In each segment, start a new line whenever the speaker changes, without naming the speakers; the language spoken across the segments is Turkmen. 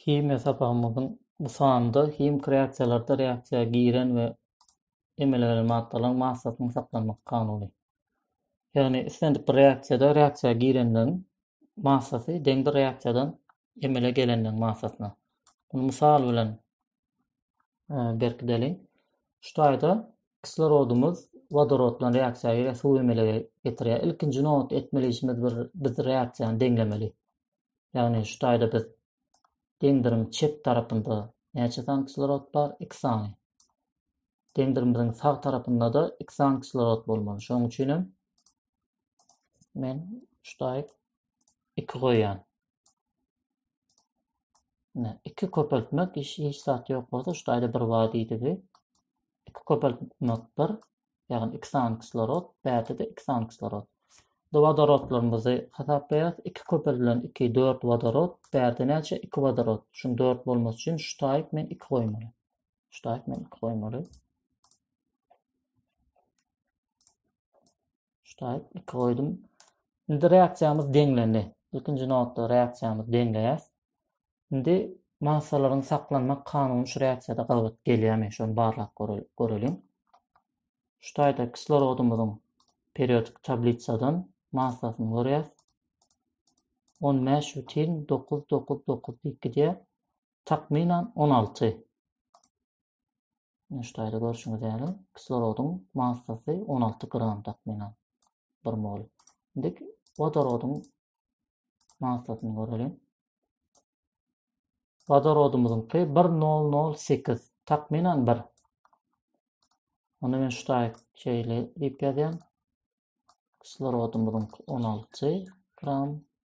Himiýa sapagymyzyň bu sanynda himiki reaksiýalarda reaksiýa giren we emele gelen maddalaryň massasynyň saklanmak kanuny. Ýagny islendik bir reaksiýada reaksiýa girenleň massasy deň bir reaksiýadan emele gelenleň massasyna. Muny mysal bilen e, berkideliň. Şu taýda kislorodumyz wodorod bilen reaksiýa girýär, suw emelege getirýär. Ilkinji nobatda etmeli işimiz bir biz reaksiýany deňlemeli. Ýagny şu taýda biz deňdirim çep tarapynda näçe sany kislorod bar? 2 sany. Deňdirimimiziň sag tarapynda-da 2 sany kislorod bolmaly. Şonuň üçin hem men şu taýda 2 goýýan. Ine, iki köpeltmek hiç hiç zat ýok bolsa, şu taýda bir bar diýdigi. Iki köpeltmek bir, ýagny iki sany kislorod, bärde de iki sany kislorod. Bu wodorodlarymyzy hasaplaýarys. Iki köpeldilen iki, dört wodorod, bärde näçe? Iki wodorod. Şuň dört bolmasy üçin şu taýyp men iki goýmaly. Şu taýyp men iki goýmaly. Ştaýt 2 goýdum. Indi reaksiýamyz deňlendi. Ilkinji nobatda reaksiýamyzy deňleýäs. Indi massalaryň saklanmak kanuny şu reaksiýada gabat gelýärmi, şony barlap göreliň. Ştaýda kislorodymyzyň periodik tablisadan massasyny görýäs. 15 butin 9 9 9 diýip gidýär. takmynan on alty Ine şutaýda görşüňiz ýaly kislorodyň massasy on alty gram takmynan bir mol. Indi wodorodyň massasyny göreliň. Wodorodymyzyňky bir nol nol sekiz takmynan bir. Onda men şutaý şeýle diýip ýazýan. Kislorodymyzyň on alty gram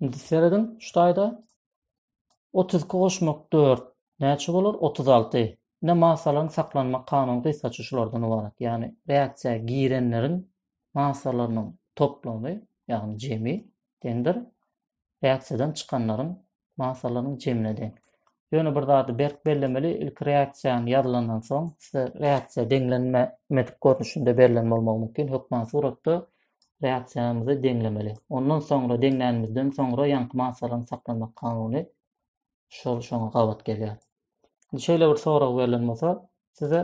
Indi serediň şu taýda 32 goşmak 4 näçe bolar? 36. Indi masalaryň saklanmak kanuny gysgaça şulardan ybarat. Ýagny reaksiýa girenleriň masalarynyň toplamy, ýagny jemi deňdir reaksiýadan çykanlaryň massalarynyň jemine deň. Ýöne bir zady berk bellemeli, ilki reaksiýany ýazylandan soň, size reaksiýa deňlenmedik görnüşinde berlen bolmagy mümkin, hökman suratda reaksiýamyzy deňlemeli. Ondan soňra deňlänimizden soňra ýaňky massalaryň saklanmak kanuny şol şoňa gabat gelýär. Indi şeýle bir sorag berlen bolsa, size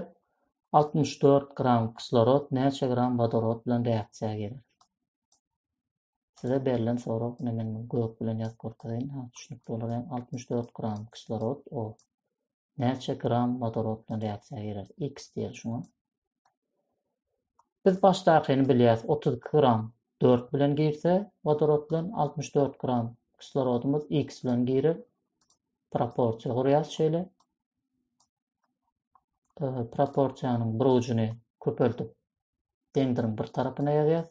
64 gram kislorod näçe gram wodorod bilen reaksiýa geler? Size berlen sorag ine men gök bilen ýazyp görkezeýin ha düşnükli bolar ýaňy altmyş dört gram kislorod o näçe gram wodorod bilen reaksiýa girer x diýeli şuňa biz başdakyny bilýäs otuz iki gram dört bilen girse wodorod bilen altmyş dört gram kislorodymyz x bilen girer proporsiýa gurýas şeýle proporsiýanyň bir ujuny köpeltip deňdiriň bir tarapyna ýazýas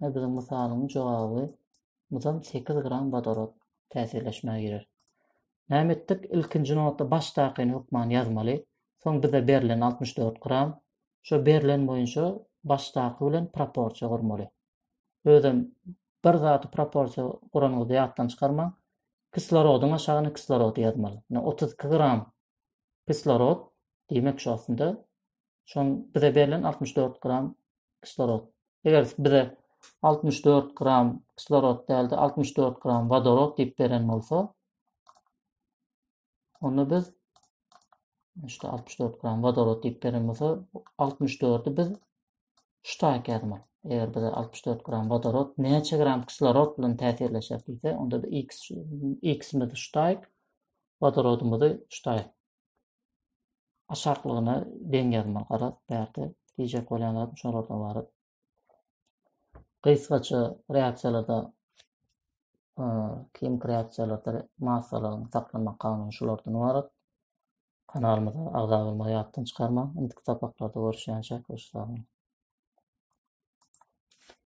Ine biziň mysalyň jogaby mydam sekiz gram wodorod täsirleşmä girer. Näme etdik? Ilkinji nobatda başdakyny hökman ýazmaly. Soň bize berlen altmyş dört gram. Şo berlen boýunça başdaky bilen proporsiýa gurmaly. Özem bir zady proporsiýa guranyňyzda ýatdan çykarmaň. Kislorodyň aşagyna kislorody ýazmaly. Ine otuz iki gram kislorod, diýmek şu aslynda Şoň bize berlen 64 gram kislorod. Eger bize 64 gram kislorod däldi, 64 gram vodorod diýip beren bolsa, onda biz işte 64 gram vodorod diýip beren bolsa, 64-i biz şu taýka ýazmaly. Eger bize 64 gram vodorod näçe gram kislorod bilen täsirleşer diýse, onda da x x-imizi şu taýk, vodorodymyzy şu taýk Aşaklygyna deň ýazmaly garaz bärde diýjek bolýan zadym şolardan ybarat. Gysgaça reaksiýalarda kimik reaksiýalarda massalaryň saklanma kanuny şolardan ybarat. Kanalymyza agza bolmagy ýatdan çykarmaň. Indiki sapaklarda görüşýänçäk hoş sag boluň.